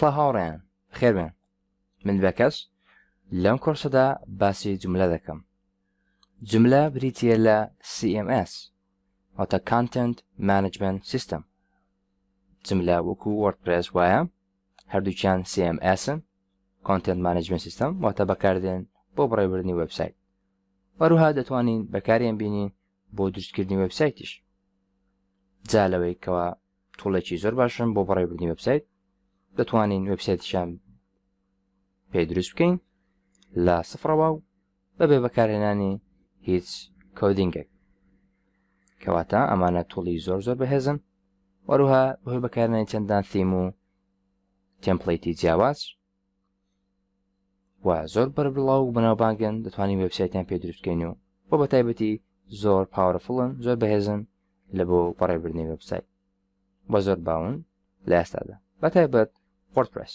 سڵ هاوڕێن خێبن من بەکەس لەم کۆرسەدا باسی جملە دەکەم جملە بریتە لە CMS واتە Content Management System جملە وەکو وەرپرس وایە هەردووکیان CMS ن، Content Management System، واتە بەکاردێن بۆ بڕێوردنی وێبسایت. هەروەها دەتوانین بەکاریان بینین بۆ دروستکردنی وێبسایتیش. جا لەوەی کەوا توڵێکی زۆر باشن بۆ بڕێوردنی وێبسایت، دەتوانین وێبسایتیشان پێ دروست بکەین لە سفڕەوە و بەبێ بەکارهێنانی هیچ کۆدینگێک کەواتە ئەمانە توڵی زۆر زۆر بەهێزن وەروها بەهۆی بەکارهێنانی چەندان ثیم و تێمپلیتی جیاواز و زۆر بەر بڵاو بەناوبانگن دەتوانین وێبسایتیان پێ دروستکەین و بۆ بە تایبەتی زۆر پاوەرفڵن زۆر بەهێزن لە بۆ بەڕێبردنی وێبسایت بە زۆر باون لە ئێستادا بە تایبەت وەردپرس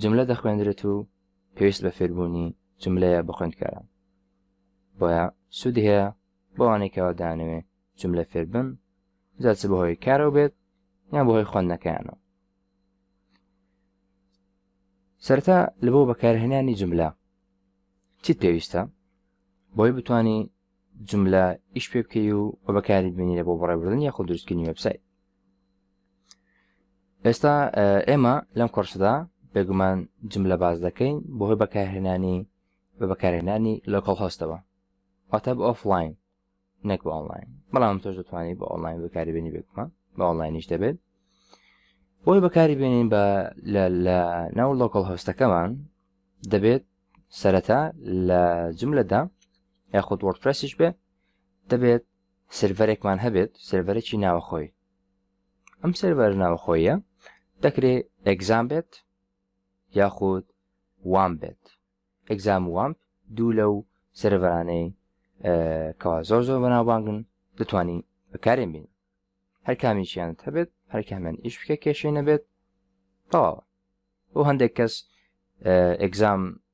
جملە دەخوێندرێت و پێویست بە فێربوونی جملەیە بۆ خوێندکاران. بۆیە سوودی هەیە بۆ ئەوانەی کەوا دەیانەوێت جملە فێربن، جا چ بەهۆی کارەوە بێت یان بەهۆی خوێندنەکەیانەوە. سەرەتا لە بۆ بەکارهێنانی جملە چیت پێویستە بۆی بتانی جملە ئیش پێ بکەی و بە بەکاری ببینی لە بۆ بەڕێوردن یاخود دروستکردنی وێبسایت. ئێستا ئێمە لەم کۆرسدا بێگومان جملە باز دەکەین بەهۆی بەکارهێنانی بە بەکارهێنانی لۆکڵ هۆستەوە واتە بە ئۆفلاین نەک بە ئۆنلاین بەڵام تۆش دەتوانانی بە ئۆنلاین بەکاریبێنی بێگومان بە ئۆنلاینیش دەبێت بۆی بەکاری بێنین بە لە ناو لۆکڵ هۆستەکەمان دەبێت سەرەتا لە جملەدا یاخود وەرپرسیش بێ دەبێت سێرڤەرێکمان هەبێت سێرڤەرێکی ناوەخۆی ئەم سێرڤەر ناوەخۆیە دەکرێ ئەگزام بێت یاخود وام بێت ئەگزام وام دوو لەو سێرڤەرانەی کەوا زۆر زۆر بەناوبانگن دەتوانین بەکارێن بین هەر کامیشیانت هەبێت هەر کامیان ئیش بکە کێشەی نەبێت تەواوە بۆ هەندێک کەس ئەگزام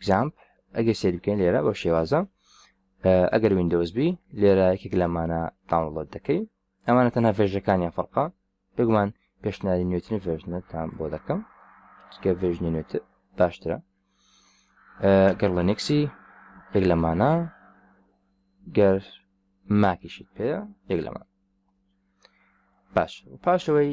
Examp، ئەگەر سەیری بکەین لێرە بەو شێوازە ئەگەر ویندۆز بی لێرە یەکێک لەمانە داونڵۆد دەکەی ئەمانە تەنها ڤێژەکانیان فەرقا بگومان پێشناری نوێترین ڤێژنەتان بۆ دەکەم چکە ڤێژنی نوێت باشترە گەر لەنێکسی یەک لەمانە گەر ماکیشیت پێ یەک لەمان باش پاشەوەی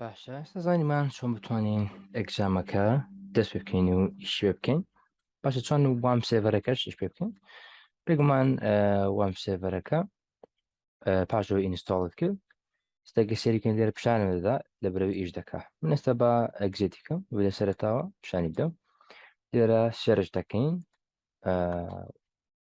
باشە ئێستا زانیمان چۆن بتوانین ئەگزامەکە دەست پێ بکەین و ئیش پێ بکەین باشە چۆن و وام سێڤەرەکەش ئیش پێ بکەین بێگومان وام سێڤەرەکە پاشەوە ئینستاڵت کرد ستەگە سێریکەن لێرە پیشانە دەدا لە برەوە ئیش دەکا من ئێستا بە ئەگزێتیکەم لە سەرتاوە پیشانی بدەم لێرە سێرش دەکەین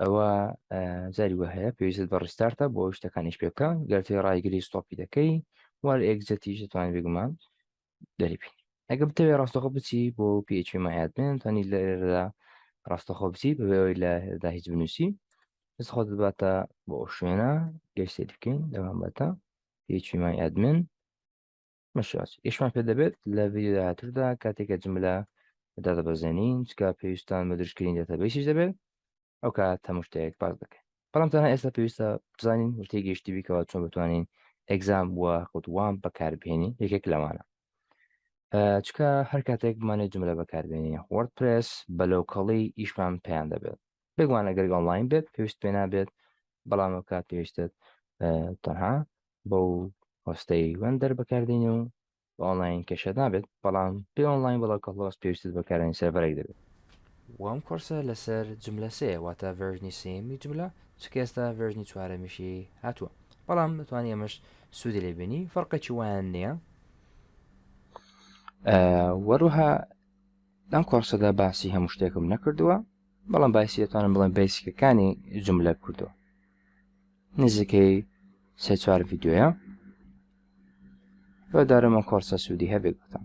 ئەوا جاری وە هەیە پێویست بە ڕیستارتە بۆ شتەکانیش پێ بکە گەر تێ ڕایگری ستۆپی دەکەی وار ئێگزەتیش دەتوانانی بێگومان دەریبین ئەگە بتەوێ ڕاستەخۆ بچی بۆ پێچ مایات بێن توانی لەێرەدا ڕاستەخۆ بچی بەوەی لەدا هیچ بنووسی دەست خۆ دەباتە بۆ ئەو شوێنە گەشتێ بکەین دەوامەتە پێچی مای ئەدمن مەشاچ ئیشمان پێ دەبێت لە ڤیدیۆ داهاتوودا کاتێکە جملە دادەبەزێنین چکە پێویستان بە درشکرین دەتەبەیسیش دەبێت ئەو کا تەمشتەیەک باز دەکەین بەڵام تەنها ئێستا پێویستە بزانین وتەی گەشتی بیکەوە چۆن بتوانین ئەگزام بووە خودوام بەکاربهێنی یەکێک لەوانە چکە هەر کاتێک بمانێت جملە بەکاربێنی وەرد پرس بەلەوکەڵی ئیشمان پێیان دەبێت بێگوانە گەرگ ئۆنلاین بێت پێویست پێ نابێت بەڵام ئەو کات پێویستێت تەنها بەو هۆستەی وەندەر بەکاردێنێ و بە ئۆنلاین کێشەت نابێت بەڵام پێ ئۆنلاین بەڵە کەڵۆس پێویستت بەکارێن سێڤەرێک دەبێت و ئەم کۆرسە لەسەر جملە سێ واتە ڤێرژنی سێمی جملە چکە ئێستا ڤێرژنی چوارەمیشی هاتووە بەڵام دەتوانانی ئەمەش سوودی لێ بینی فەرقێکی وایان نییە وەروها لەم کۆرسەدا باسی هەموو شتێکم نەکردووە بەڵام باسی دەتوانم بڵێم بەیسکەکانی جملە کوردۆ نزیکەی سێ چوار ڤیددیوە بە دارەمە کۆرسە سوودی هەبێت بتان